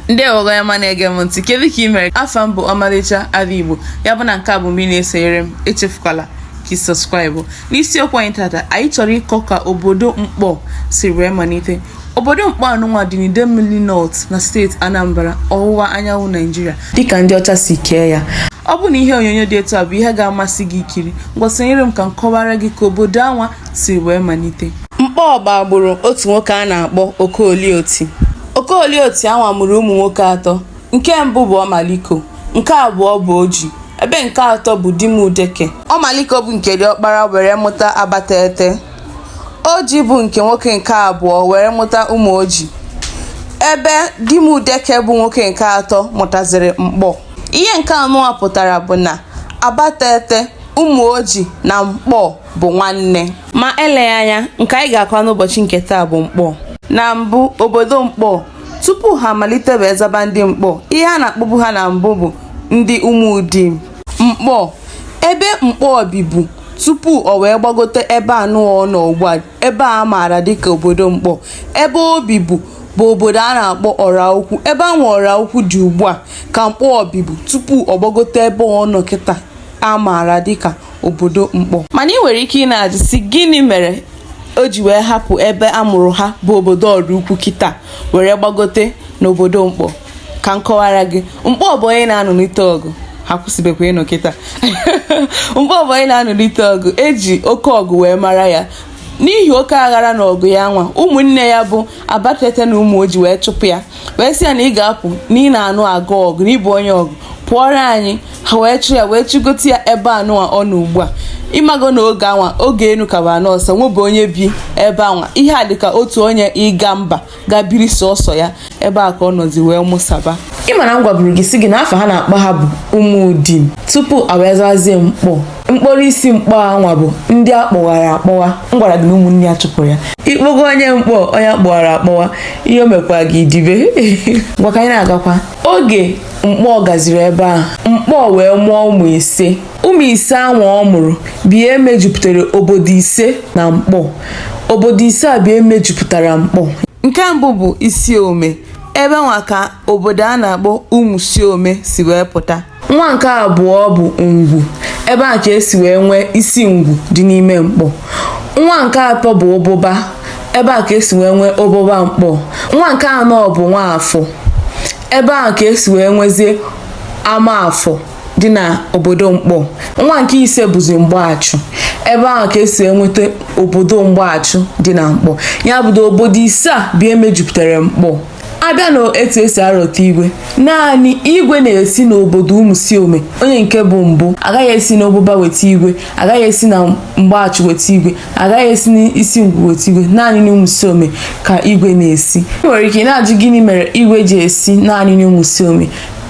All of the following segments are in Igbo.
ndeewo onye ọma na-ege m ntị kedu ka ị mere afa m bụ ọmalịcha ala igbo ya bụ na nke a bụ mbụ ị na-esonyere m echefukwala ka subscribe n'isiokwu anyị tata anyị chọrọ ịkọ ka obodo nkpor si wee malite obodo nkpor anụnwa dị n'idemili north na steeti anambra ọwụwa anyanwụ naijiria dịka ndị ọcha si kee ya ọ bụ na ihe onyonyo dị etu a bụ ihe ga-amasị gị ikiri ngwa sonyere m ka m kọwara gị ka obodo anwa si wee malite nkpor bụ agbụrụ otu nwoke a na-akpọ okolie oti Okolie Oti anwa mụrụ ụmụ nwoke atọ, nke mbụ bụ Omaliko, nke abụọ bụ Oji, ebe nke atọ bụ Dimudeke. Omaliko bụ nke diọkpara were mụta Abatete. Oji bụ nke nwoke nke abụọ were mụta Umuoji, ebe Dimudeke bụ nwoke nke atọ mụtaziri Nkpor. Ihe nke anụwa pụtara bụ na Abatete, Umuoji na Nkpor bụ nwanne ma eleghị anya nke anyị ga-akọ n'ụbọchị nke taa bụ nkpor na mbụ obodo nkpor tupu ha amalite wee zaba ndị nkpor ihe a na-akpọbu ha na mbụ bụ ndị umudim nkpor ebe nkpor bibu tupu o wee gbagote ebe anụwa ọ nọ ugbu a ebe a maara dịka obodo nkpor ebe o bibu bụ obodo a na-akpọ Ọraukwu ebe anwa Ọraukwu dị ugbu a ka nkpor bibu tupu ọ gbagote ebe ọ nọ kịta a maara dịka obodo nkpor mana ị nwere ike ị na-ajụ sị gịnị mere o ji wee hapụ ebe a mụrụ ha bụ obodo ọraukwu kịta were gbagote n'obodo nkpor ka m kọwara gị nkpor bụ onye na-anụlite ọgụ ha akwụsịbekwa ịnụ kịta nkpor bụ onye na-anụlite ọgụ e ji oke ọgụ wee mara ya n'ihi oke aghara na ọgụ ya anwa ụmụnne ya bụ abatete na umuoji wee chụpụ ya wee sị ya na ị ga-apụ na ị na-anụka ọgụ na ị bụ onye ọgụ pụọrọ anyị ha wee chụ ya wee chụgote ya ebe anụwa ọ nọ ugbu a ị mago na oge anwa oge enu ka bụ ana ọsa o nwebe onye bi ebe anwa ihe a dịka otu onye ịga mba ga biri sọsọ ya ebe a ka ọ nọzi wee mụsaba ị ma na m gwaburu gị sị gị na afa a na-akpọ ha bụ umudim tupu ha wee zazie nkpor mkpọrọ isi nkpor anwa bụ ndị a kpọwara akpọwa m gwara gị na ụmụnne ya chụpụrụ ya ị kpọgo onye nkpor onye a kpọwara akpọwa ihe o mekwa gị dibe ngwa ka anyị na-agakwa oge nkpor gaziri ebe a nkpor wee mụọ ụmụ ise ụmụ ise ahụ ọ mụrụ bụ ihe mejupụtara obodo ise na nkpor obodo ise a bụ ihe mejupụtara nkpor nke mbụ bụ isiome ebe anwa ka obodo a na-akpọ umusiome si wee pụta nwa nke abụọ bụ ngwu ebe a ka e si wee nwee isingwu dị n'ime nkpor nwa nke atọ bụ ububa ebe a ka e si wee nwee ububa nkpor nwa nke anọ bụ nwafọ ebe ahụ ka esi wee nwezie amafọ dị na obodo nkpor nwa nke ise bụzi mgbachụ ebe ahụ ka esi enweta obodo mgbachụ dị na nkpor ya bụ obodo ise a bụ ihe mejupụtara nkpor abịa na etu esi arọta igwe naanị igwe na-esi n'obodo ụmụsiome onye nke bụ mbụ agaghị esi n'ụbụba weta igwe agaghị esi na mgbachụ weta igwe agaghị esi n'isingwu weta igwe naanị n'ụmụsiome ka igwe na-esi ị nwere ike na-ajụ gịnị mere igwe ji esi naanị n'ụmụsiome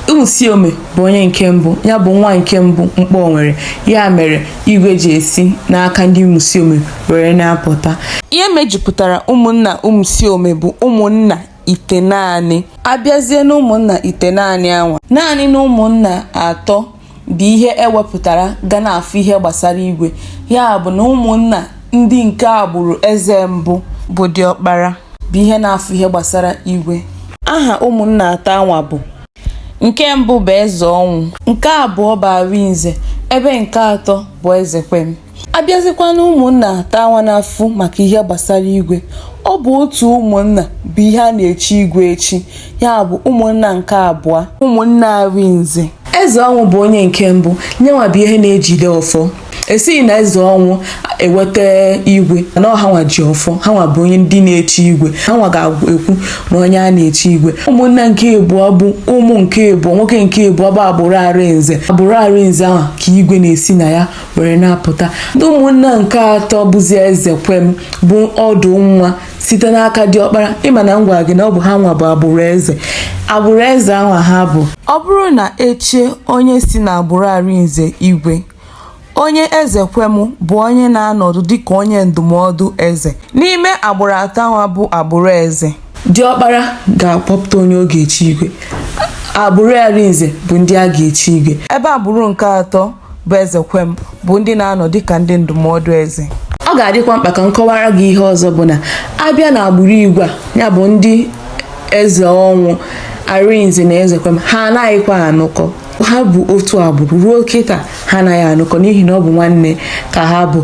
ụmụsiome bụ onye nke mbụ ya bụ nwa nke mbụ nkpor nwere ya mere igwe ji esi n'aka ndị ụmụsiome were na-apụta ihe mejupụtara ụmụnna ụmụsiome bụ ụmụnna itenaanị abịazie n'ụmụnna itenaanị anwa naanị na ụmụnna atọ bụ ihe ewepụtara ga na-afụ ihe gbasara igwe ya bụ na ụmụnna ndị nke agbụrụ eze mbụ bụ diọkpara bụ ihe na-afụ ihe gbasara igwe aha ụmụnna atọ anwa bụ nke mbụ bụ eze ọnwụ nke abụọ bụ arinze ebe nke atọ bụ ezekwem abịazikwa na ụmụnna atọ anwa na-afụ maka ihe gbasara igwe ọ bụ otu ụmụnna bụ ihe a na-echi igwe echi ya bụ ụmụnna nke abụọ ụmụnna arinze eze ọnwụ bụ onye nke mbụ nyenwa bụ ihe na-ejide ọfọ esighị na eze ọnwụ eweta igwe na ọ ha nwa ji ọfọ ha nwa bụ onye ndị na-echi igwe ha nwa ga-ekwu na onye a na-echi igwe ụmụnna nke abụọ bụ ụmụ nke abụọ nwoke nke abụọ bụ agbụrụ arinze agbụrụ arinze ahụ ka igwe na-esi na ya were na-apụta ndị ụmụnna nke atọ bụzi ezekwem bụ ọdụ nwa site n'aka diọkpara ịma na m gwara gị na ọ bụ ha nwa bụ agbụrụ eze agbụrụ eze anwa ha bụ ọ bụrụ na echie onye si na agbụrụ arinze igwe onye ezekwem bụ onye na-anọdụ dịka onye ndụmọdụ eze n'ime agbụrụ atọ anwa bụ agbụrụ eze diọkpara ga-akpọpụta onye ọ ga-echi igwe agbụrụ arinze bụ ndị a ga-echi igwe ebe agbụrụ nke atọ bụ ezekwem bụ ndị na-anọ dịka ndị ndụmọdụ eze ọ ga-adịkwa mkpa ka m kọwara gị ihe ọzọ bụ na abịa na agbụrụ igwe a ya bụ ndị eze ọnwụ arinze na ezekwem ha anaghịkwa anụkọ ha bụ otu agbụrụ ruo kịta ha anaghị anụkọ n'ihi na ọ bụ nwanne ka ha bụ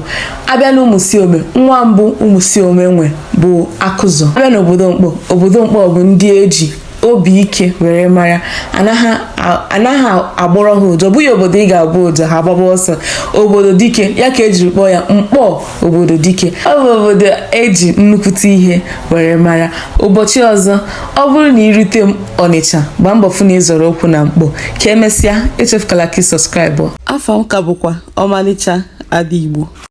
abịa na ụmụsiome nwa mbụ ụmụsiome nwe bụ akụzọ abịa na obodo nkpor obodo nkpor bụ ndị eji obi ike were mara anaghị agbọrọ ha ụja ọ bụghị obodo ị ga-agbọ ụja ha agbaba ọsọ obodo dike ya ka ejiri kpọọ ya nkpor obodo dike ọ bụ obodo eji nnukwute ihe were mara ụbọchị ọzọ ọ bụrụ na irute ọnịcha gbaa mbọ fụ na ị zọrọ ụkwụ na nkpor ka emesịa echefukala ka ị subscribe afa m ka bụkwa ọmalịcha ada igbo